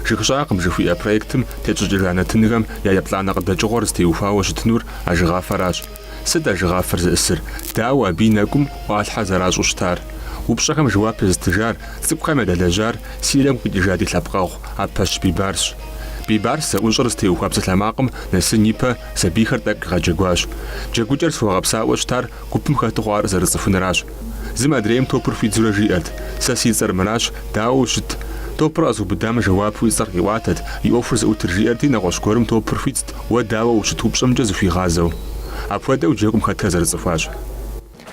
Жыг щӏагъым жыхуиӏэ проектым тетщӏыкӏыжа нэтынхэм я еплӏанэ къыдэкӏыгъуэр зытеухуауэ щытынур ажэгъафэращ. Сыт ажэгъафэр зыӏысыр? Дауэ абы и нэкӏум ӏуалъхьэр зэращӏу щытар? Упщӏэхэм жэуап езытыжар, цӏыкӏухэм ядэлэжьар Сирием къикӏыжа ди лъэпкъэгъу Апэщ Бибарсщ. Бибарс зэӏущӏэр зытеухуа псалъэмакъым нэсын ипэ сабийхэр тӏэкӏу къигъэджэгуащ. Джэгукӏэр зыхуэгъэпсауэ щытар гупым хэту хъуар зэрыцӏыхунращ. Зым адрейм топыр хуидзурэ жиӏэрт, Сэ си цӏэр мыращ, дауэ ущыт? Топыр къэзыубыдам жэуапу и цӏэр къиӏуатэт, и ӏуэхур зыӏутыр жиӏэрти, нэгъуэщӏ гуэрым топыр хуидзт, уэ дауэ ущыт упщӏэмкӏэ зыхуигъазэу. Апхуэдэу джэгум хэтхэр зэрыцӏыхуащ.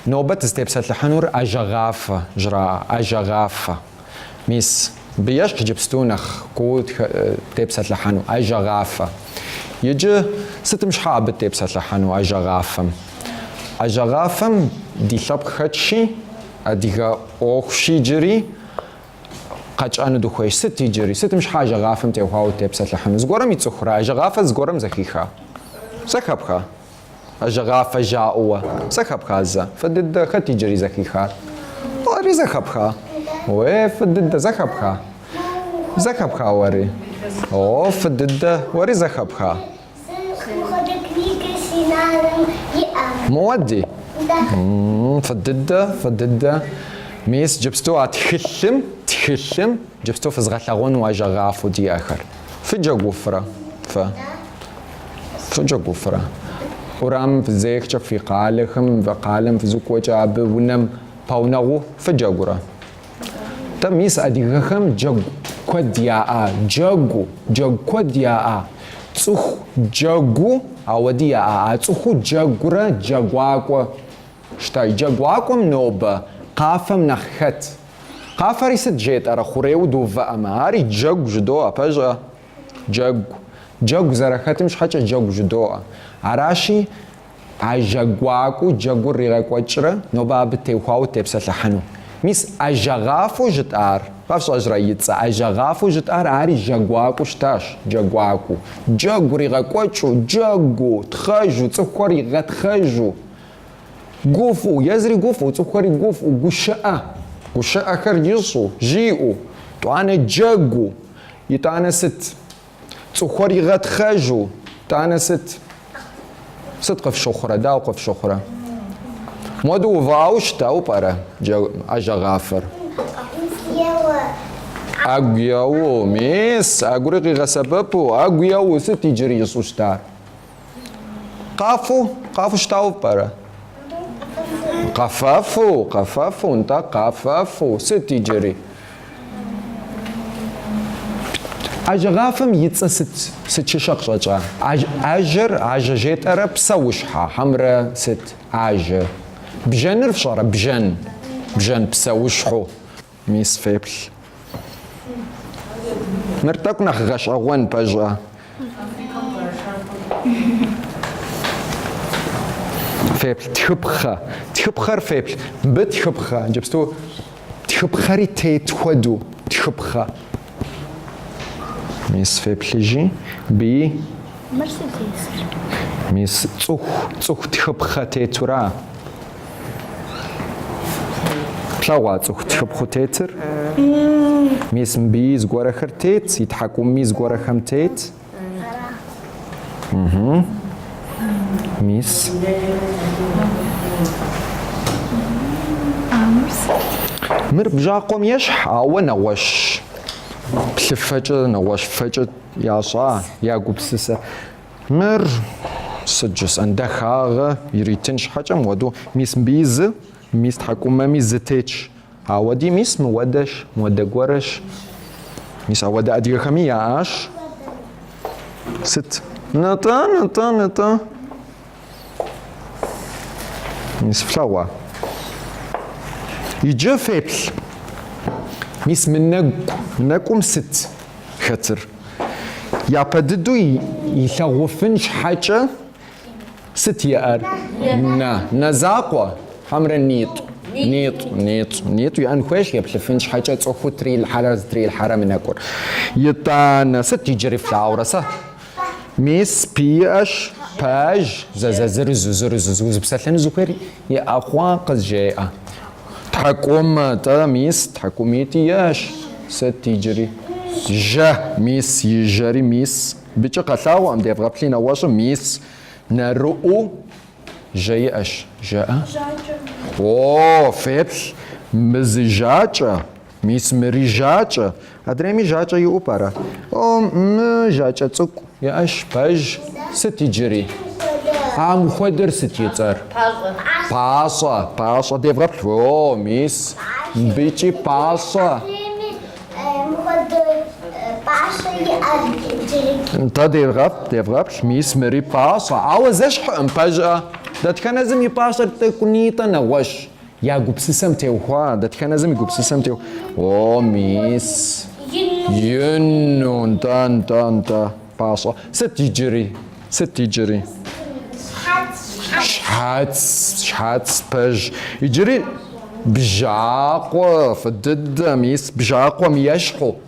Нобэ дызытепсэлъыхьынур ажэгъафэ, жраӏэ, ажэгъафэ. Мис, абы ещхь иджыпсту нэхъ куу тепсэлъыхьэну ажэгъафэ. Иджы сытым щхьа абы тепсэлъыхьэну ажэгъафэм? Ажэгъафэм ди лъэпкъ хэтщи, адыгэ ӏуэхущи иджыри къэтщӏэну дыхуейщ. Сыт иджыри? Сытым щхьа ажэгъафэм теухуауэ тепсэлъыхьыну? Зыгуэрым ицӏыхурэ? Ажэгъафэ зыгуэрым зэхиха? Зэхэпха? Ажэгъафэ жаӏэуэ зэхэпха зэ? Фӏы дыдэ, хэт иджыри зэхихар? Уэри зэхэпха? Уе, фӏы дыдэ, зэхэпха? Зэхэпха уэри? О, фӏы дыдэ, уэри зэхэпха? Моди? Фӏы дыдэ, фӏы дыдэ. Мис джыпсту а тхылъым, тхылъым, джыпсту фызгъэлъагъуэну ажэгъафэу диӏэхэр. Фыджэгуфрэ, фэ? Фыджэгуфрэ? Урамым фызехкӏэ фи къалэхэм, фи къалэм фызукӏуэкӏэ абы унэм пэунэгъуу фыджэгурэ? Дэ мис адыгэхэм джэгу куэд яӏа, джэгу, джэгу куэд яӏа. Цӏыху джэгуу ауэди яӏа, а цӏыхуу джэгурэ джэгуакӏуэу щыта, джэгуакӏуэм нобэ къафэм нэхъ хэт? Къафэри сыт жетӏэрэ, хъурейу дыувыӏэмэ, ари джэгу жыдоӏэ, пэжӏэ? Джэгу. Джэгу зэрэхэтым щхьэкӏэ джэгу жыдоӏэ. Аращи, а джэгуакӏуэу джэгур ригъэкӏуэкӏрэ нобэ абы теухуауэ тепсэлъыхьыну. Мис ажэгъафэу жытӏар, къэфщӏэжрэ и цӏэ, ажэгъафэу жытӏар ари джэгуакӏуэу щытащ, джэгуакӏуэу. Джэгу ригъэкӏуэкӏыу, джэгуу, тхъэжу, цӏыхухэр игъэтхъэжу. Гуфӏыу, езыри гуфӏыу, цӏыхухэри гуфӏыу, гущыӏэ, гущыӏэхэр ищӏу, жиӏэу, тӏуанэ джэгуу, итӏанэ сыт? Цӏыхухэр игъэтхъэжу, тӏанэ сыт? Сыт къыфщыхъурэ, дауэ къыфщыхъурэ? Моду увыӏауэ щытауэ пӏэрэ ажэгъафэр? ӏэгу еуэу, мис, ӏэгури къигъэсэбэпу, ӏэгу еуэу, сыт иджыри ищӏу щытар? Къафэу, къафэу щытауэ пӏэрэ? Къэфэфу, къэфэфу, нтӏэ, къэфэфу, сыт иджыри? Ажэгъафэм и цӏэ сыт, сыт щыщу къыщӏэкӏа? Ажэр, ажэ жетӏэрэ псэущхьэ, хьэмрэ сыт? Ажэ. Бжэныр фщӏэрэ? Бжэн. Бжэн псэущхьэу. Мис феплъ. Мыр тӏэкӏу нэхъ гъэщӏэгъуэн пэжӏэ. Феплъ тхыпхъэ. Тхыпхъэр феплъ. Мыбы тхыпхъэ. Иджыпсту тхыпхъэри тет хуэдэу тхыпхъэ. Мис феплъыжи, мыбыи. Мыр сыт есыр? Мис цӏыху, цӏыху тхыпхъэ тетура? Плъэгъуа цӏыху тхыпхъэу тетыр? Мис мыбыи зыгуэрэхэр тет, и тхьэкӏумми зыгуэрэхэм тет. Мис. Мыр бжьакъуэм ещхь, ауэ нэгъуэщӏ плъыфэкӏэ, нэгъуэщӏ фэкӏэ ящӏа, ягупсысэ. Мыр сыт жысӏэн, дахагъэ иритын щхьэкӏэ мыуэдэу мис мыбыи зы, мис тхьэкӏумэми зы тетщ. Ауэди мис мыуэдэщ, мыуэдэ гуэрэщ. Мис ауэдэ адыгэхэми яӏащ. Сыт? Нытӏэ, нытӏэ, нытӏэ. Мис флъэгъуа? Иджы феплъ. Мис мы нэгу, нэкӏум сыт хэтыр? Япэ дыдэу илъагъуфын щхьэкӏэ. Сыт иӏэр? Нэ, нэ закъуэ, хьэмрэ нитӏ, нитӏ, нитӏ, нитӏ иӏэн хуейщ, еплъыфын щхьэкӏэ цӏыхуу трилъхьэрэ зытрилъхьэрэ мы нэкӏур. Итӏанэ, сыт иджыри флъагъурэ сэ? Мис, пэ иӏэщ, пэж, зэзэзырызу, зырызу, узыпсэлъэну зыхуейр иӏэ хъуа, къызжеӏэ. Тхьэкӏумэ, тӏэ, мис, тхьэкӏумитӏ иӏэщ, сыт иджыри? Жьэ, мис, и жьэри, мис, Мыбыкӏи къэлъагъуэкъым, девгъэплъи нэгъуэщӏым мис нэрыӏуу жьэ иӏэщ, жаӏэ? Жьакӏэ. О, феплъ, мы зы жьакӏэ, мис мыри жьакӏэ. Адрейми жьакӏэ иӏэу пӏэрэ? О, мы жьакӏэ цӏыкӏу иӏэщ, пэж, сыт иджыри? Ам хуэдэр сыт и цӏэр? Пащӏэ. Пащӏэ, пащӏэ, девгъэплъ. О, мис мыбыкӏи пащӏэ. Нтӏэ, девгъэпӏ, девгъэплъ, мис мыри пащӏэ, ауэ зэщхьыӏым, пэжӏэ. Дэтхэнэ зым и пащӏэр тӏэкӏунитӏэ нэгъуэщӏ, я гупсысэм теухуа, дэтхэнэ зым и гупсысэм теухуа. О, мис. Ину, нтӏэ, нтӏэ, нтӏэ. Пащӏэ. Сыт иджыри? Сыт иджыри? Щхьэц, щхьэц пэж. Иджыри бжьакъуэ фӏы дыдэ мис бжьакъуэм ещхьу.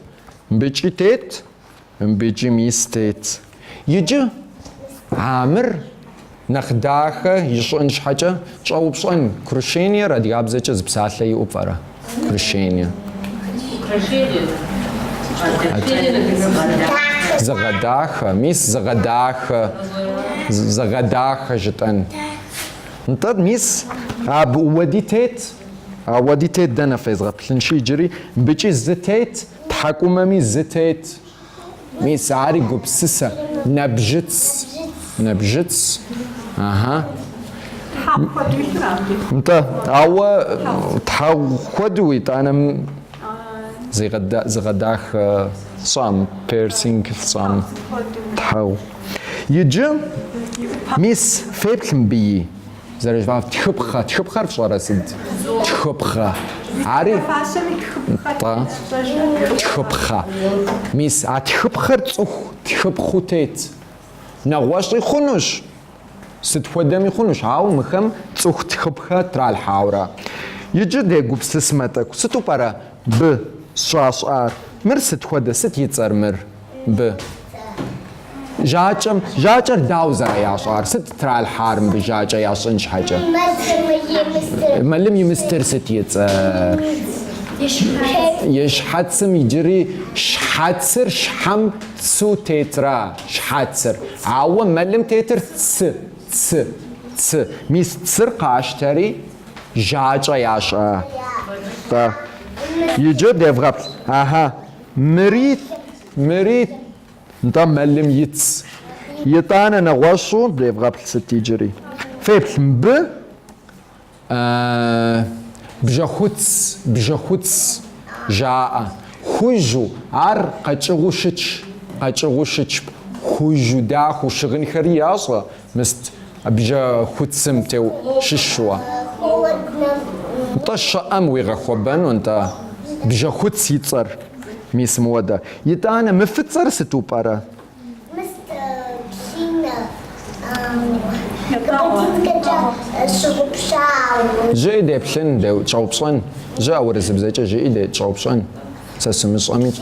Мыбыкӏи тет, мыбыкӏи мис тет. Иджы а мыр. Нэхъ дахэ ищӏын щхьэкӏэ щӏэупщӏэн, украшениер адыгабзэкӏэ зы псалъэ иӏэу пӏэрэ? Украшение. Зыгъэдахэ, мис зыгъэдахэ, зыгъэдахэ жытӏэн. Нтӏэ, мис абы уэди тет, а уэди тет дэнэ фезгъэплъынщи иджыри, мбыкӏи зы тет, тхьэкӏумэми зы тет. Мис ари гупсысэ, нэбжьыц. Нэбжьыц. Ага. Тхьэгъу хуэдэу итыра? Нтӏэ, ауэ тхьэгъу хуэдэу итӏанэм зыгъэдахэ фщӏам, персинг фщӏам тхьэгъу. Иджы, мис, феплъ мыбыи. Зэрыжыфӏам тхыпхъэ. Тхыпхъэр фщӏэрэ сыд? Тхыпхъэ. Ари? Тӏэ. Тхыпхъэ. Мис а тхыпхъэр цӏыху тхыпхъу тет. Нэгъуэщӏи хъунущ, сыт хуэдэми хъунущ, ауэ мыхэм цӏыху тхыпхъэ тралъхьауэрэ. Иджы дегупсысмэ тӏэкӏу, сыту пӏэрэ бы щӏащӏар? Мыр сыт хуэдэ, сыт и цӏэр мыр? мыбы жьакӏэм, жьакӏэр дауэ зэраящӏар, сыт тралъхьар мыбы жьакӏэ ящӏын щхьэкӏэ? Мэлым и мыстыр сыт и цӏэр? И щхьэцым иджыри щхьэцыр щхьэм цу тетра, щхьэцыр. Ауэ мэлым тетыр цы, цы, цы. Мис цыр къащтэри жьакӏэ ящӏа. Иджы девгъэплъ. Ага. Мырит, мырит, нтӏэ мэлым и ц. Итӏанэ нэгъуэщӏу девгъэплъ сыт иджыри. Феплъ мыбы бжьэхуц, бжьэхуц жаӏэ. Хужьу, ар къэкӏыгъэу щытщ, къэкӏыгъэу щытщ. Хужьу, дахэу щыгъынхэри ящӏэ, Мыст, бжьэхуцым теу щыщуэ. Нтӏэ щӏыӏэм уигъэхуэбэну, нтӏэ, бжьэхуц и цӏэр, мис мыуэдэ. Итӏанэ, мы фыцӏэр сыту пӏэрэ? Мыст, псинэ, грузинкэкӏэ щыгъупщау. Жыӏи деплъын, деу, тщӏэупщӏэн. Жыӏэ, урысыбзэкӏэ жыӏи, де, тщӏэупщӏэн. Сэ сымыщӏэми.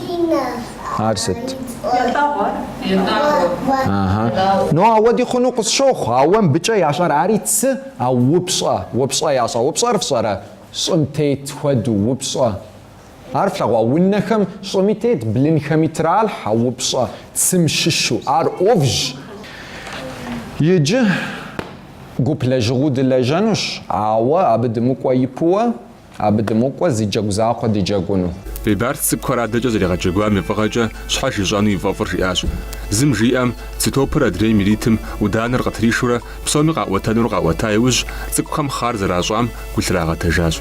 Ар сыт? Ятӏэгъуэ. Ятӏэгъуэ. Ну, ауэди хъуну къысщохъу, ауэ мыбыкӏэ ящӏэр ари цы, а упщӏэ, упщӏэ ящӏэ. Упщӏэр фщӏэрэ? Щӏым тет хуэду, упщӏэ. Ар флъэгъуа? Унэхэм щӏыми тет, блынхэми тралъхьэ упщӏэ, цым щыщу. Ар ӏувщ. Иджы гуп лэжьыгъуу дылэжьэнущ, ауэ абы дымыкӏуэ ипуэ. Абы дымыкӏуэ зы джэгу закъуэ дыджэгуну. Бибарс цӏыкӏухэр адэкӏэ зэригъэджэгуам и фӏыгъэкӏэ щхьэж ищӏэну и фӏэфӏыр жиӏащ. Зым жиӏэм, цы топыр адрейм иритым ӏуданэр къытришурэ псоми къаӏуэтэнур къаӏуэта иужь, цӏыкӏухэм хъар зэращӏам гу лърагъэтэжащ.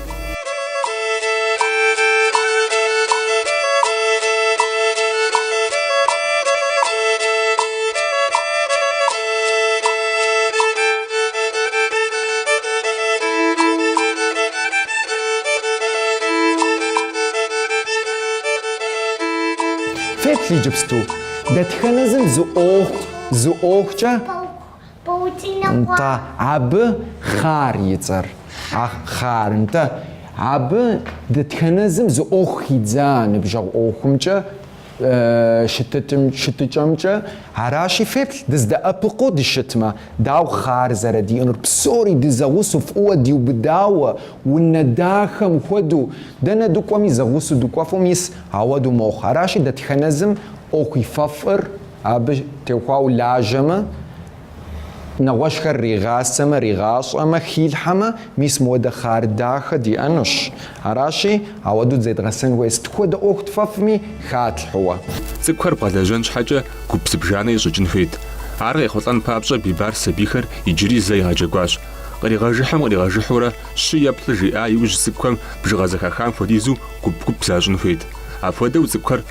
Феплъ иджыпсту. Дэтхэнэ зым зы ӏуэху, зы ӏуэхукӏэ. Паутинэ хъуа? Нтӏэ, абы хъар и цӏэр. А хъар, нтӏэ. Абы дэтхэнэ зым зы ӏуэху хидза ныбжьэгъу ӏуэхумкӏэ. щытыкӏэмкӏэ аращи, феплъ дыздэӏэпыкъуу дыщытмэ, дауэ хъар зэрыдиӏэнур, псори дызэгъусэу, фӏыуэ диубыдауэ, унэ дахэм хуэдэу, дэнэ дыкӏуэми зэгъусэу дыкӏуэфу, мис ауэдэу мохъу. Аращи, дэтхэнэ зым ӏуэху и фӏэфӏыр абы техуауэ лажьэмэ, Нэгъуэщӏхэр ригъасэмэ, ригъащӏэмэ, хилъхьэмэ, мис мыуэдэ хъар дахэ диӏэнущ. Аращи, ауэдэу дызедгъэсэн хуей сыт хуэдэ ӏуэху тфӏэфӏми, хэтлъхьэу. Цӏыкӏухэр бгъэлэжьэн щхьэкӏэ гуп зыбжанэ ищӏыкӏын хуейт. Ар къехъулӏэн папщӏэ Бибарс сабийхэр иджыри зэ игъэджэгуащ. Къригъэжыхьым къригъэжыхьурэ щы е плӏы жиӏа иужь цӏыкӏухэм бжыгъэ зэхахам хуэдизу гуп-гуп защӏын хуейт. Апхуэдэу цӏыкӏухэр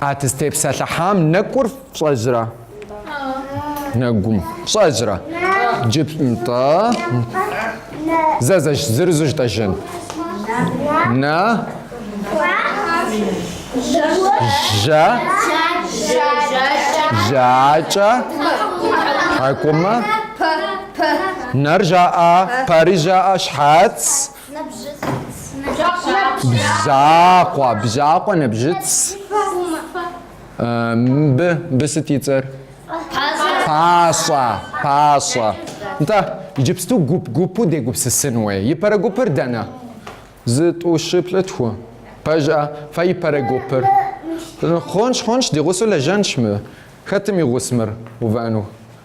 А дызтепсэлъыхьам нэкӏур фщӏэжрэ? Нэгум фщӏэжрэ? Джып нтӏэ. Зэзэш зырызу жытӏэжын. Нэ. Жьэ. Жьакӏэ. Тхьэкӏумэ. Нэр жаӏа, пэри жаӏа, щхьэц. Бжьакъуэ, бжьакъуэ, нэбжьыц. Мыбы, мыбы сыт и цӏэр? Пащӏэ, пащӏэ. Нтӏэ, иджыпсту гуп-гупу дегупсысын хуей. Ипэрэ гупыр дэнэ? Зы тӏу щы плӏы тху. Пэжӏэ, фэ ипэрэ гупыр. Хъунщ, хъунщ, ди гъусэу лэжьэнщ мы. Хэтым и гъусэ мыр увэну?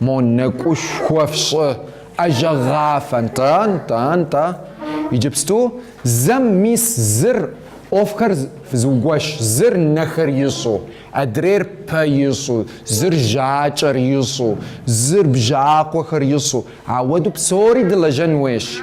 Мо нэкӏушхуэ фщӏы, ажэгъафэ, нтӏэ-нтӏэ-нтӏэ. Иджыпсту зэм мис зыр ӏуэхухэр зыугуэш, зыр нэхэр ищӏу, адрейр пэ ищӏу, зыр жьакӏэр ищӏу, зыр бжьакъуэхэр ищӏу, ауэду псори дылэжьэн уейщ.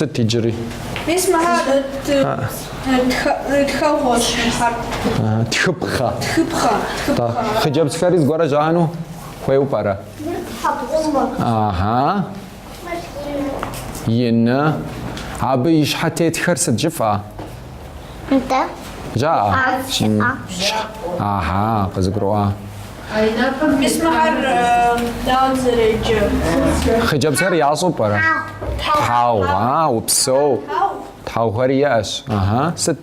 Сыт иджыри? Мис мыхэр тхэгъуэщ мыхэр. Тхыпхъэ. Тхыпхъэ. Хъыджэбзхэри зыгуэрэ жаӏэну хуейуэ пӏэрэ? Ага. Ины. Абы и щхьэ тетхэр сыт жыфӏа? Нтӏэ. Жаӏэ? Щыӏэ. Ага, къызыгурыӏуа. Мис мыхэр дауэ зэреджэ? Хъыджэбзхэр ящӏу пӏэрэ? Тхьэгъу. А, упсэу. Тхьэгъухэри иӏэщ. Ага. Сыт?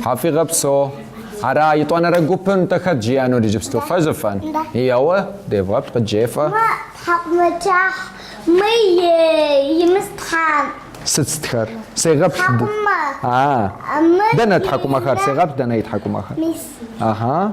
Тхьэм фигъэпсо. Ара, етӏуанэрэ гупым нтӏэ хэт жиӏэнур иджыпсту? Фэ жыфӏэн. Еуэ, девгъэплъ, къыджефӏэ. Мэ, тхьэкӏумэкӏыхь, мы е, имыс тхьэм. Сыт стхэр? Сегъэплъ. Тхьэкӏумэ. А. Мыр. Дэнэ тхьэкӏумэхэр? Сегъэплъ дэнэ и тхьэкӏумэхэр? Мис. Аха.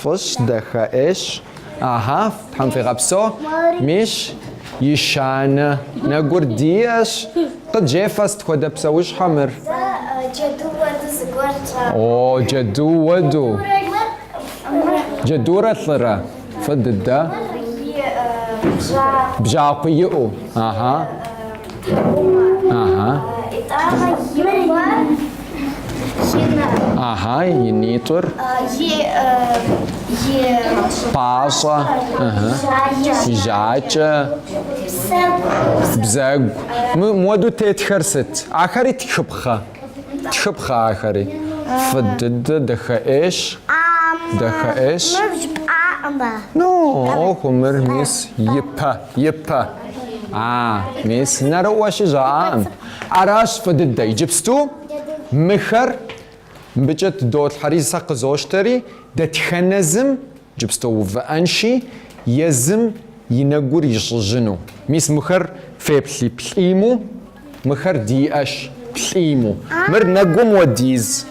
Фӏыщ, дахэӏейщ. Ага, Тхьэм фигъэпсо. Мис, ещанэ, нэгур диӏэщ. Къыджефӏэ, сыт хуэдэ псэущхьэ мыр? Сэ джэду уэду зыгуэр сщӏакъым. О, джэду уэду. Джэдурэ лӏырэ? Фӏы дыдэ. Мыр и бжьакъуэ. Бжьакъуэ иӏэу. Ага. Ага. Итӏанэ имуар ина. Ага, и нитӏыр. И и пащӏэ. Ага. Жьакӏэ. Бзэгу. Бзэгу. Мы моду тетхэр сыт? Ахэри тхыпхъэ. Тхыпхъэ ахэри. Фӏы дыдэ, дахэӏейщ. Дахэӏейщ. Мыр жыпӏакъымэ. Ну, оху, мыр мис и пэ, и пэ. А, мис нэрыӏуэщи жаӏакъым. Аращ, фӏы дыдэ. Иджыпсту мыхэр мыбыкӏэ дыдолъхьэри, сэ къызощтэри, дэтхэнэ зым. Джыпсту увыӏэнщи, езым и нэгур ищӏыжыну. Мис мыхэр феплъи плӏиму, мыхэр диӏэщ плӏиму. Мыр нэгум уэдиз.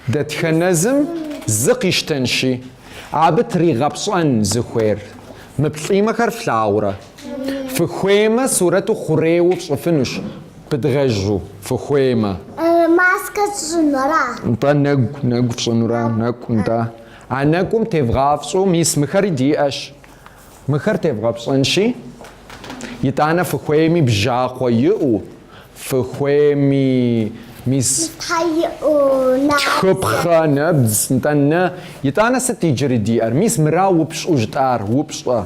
Дэтхэнэ зым зы къищтэнщи, абы тригъэпщӏэн зыхуейр. Мы плӏимэхэр флъагъурэ? Фыхуеймэ, сурэту хъурейуэ пщӏыфынущ, пыдгъэжу фыхуеймэ. Маскэ сщӏынура? Нтӏэ, нэгу, нэгу фщӏынура? Нэкӏу, нтӏэ. А нэкӏум тевгъапщӏэу мис мыхэри диӏэщ. Мыхэр тевгъэпщӏэнщи, итӏанэ фыхуейми бжьакъуэ иӏэу, фыхуейми мис тхыпхъэ, нэбдз, нтӏэ, нэ, итӏанэ сыт иджыри диӏэр? Мис мыра упщӏэу жытӏар, упщӏэ?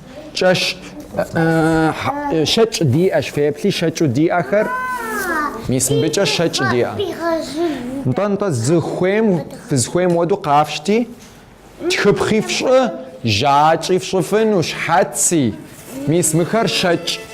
кӏэщ щэкӏ диӏэщ, феплъи щэкӏу диӏэхэр, мис мыбыкӏэ щэкӏ диӏэ. Нтӏэ-нтӏэ зыхуейм, фызхуейм уэду къафщти, тхыпхъи фщӏы, жьакӏи фщӏыфыну, щхьэци, мис мыхэр щэкӏ.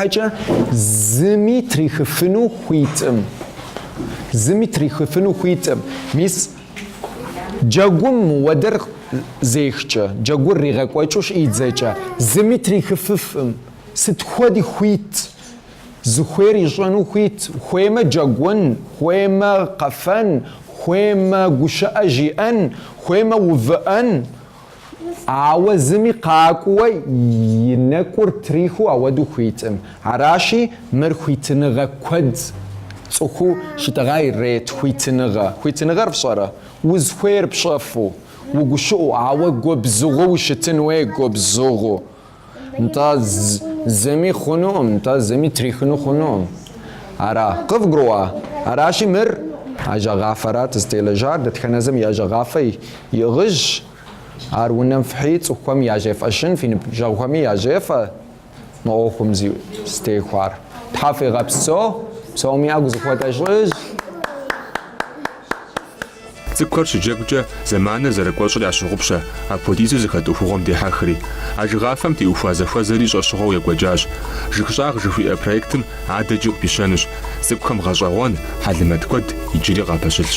Арщхьэкӏэ зыми трихыфыну хуитӏым. Зыми трихыфыну хуитӏым. Мис джэгум мыуэдэр зехкӏэ, джэгур ригъэкӏуэкӏыу щӏидзэкӏэ, зыми трихыфыфӏым. Сыт хуэди хуит, зыхуейр ищӏэну хуит, хуеймэ джэгун, хуеймэ къэфэн, хуеймэ гущыӏэ жиӏэн, хуеймэ увыӏэн. Ауэ зыми къакӏуэуэ и нэкӏур трихыу ауэдэу хуитӏым. Аращи, мыр хуитыныгъэ куэд цӏыхуу щытӏэгъам ирет хуитыныгъэ. Хуитыныгъэр фщӏэрэ? Узхуейр пщӏэфу, угущыӏу, ауэ губзыгъэу ущытын уей губзыгъэу. Нтӏэ, зыми хъунукъым, нтӏэ, зыми трихыну хъунукъым. Ара, къывгурыӏуа? Аращи, мыр ажэгъафэрат зытелэжьар, дэтхэнэ зым и ажэгъафэ иӏыгъыжщ. Ар унэм фхьи, цӏыхухэм яжефӏэжын, фи ныбжьэгъухэми яжефӏэ мы ӏуэхум зытеухуар. Тхьэ фигъэпсэу, псоми ӏэгу зыхуэтӏэщӏыжь. Цӏыкӏухэр щыджэгукӏэ зэманыр зэрыкӏуэщӏыр ящыгъупщэ, апхуэдизу зыхэт ӏуэхугъуэм дехьэхри. Ажэгъафэм теухуа зэхуэзэри щӏэщыгъуэу екӏуэкӏащ. Жыгщӏагъ жыхуиӏэ проектым адэкӏэ къыпищэнущ. Цӏыкӏухэм гъэщӏэгъуэн, хьэлэмэт куэд иджыри къапэщылъщ.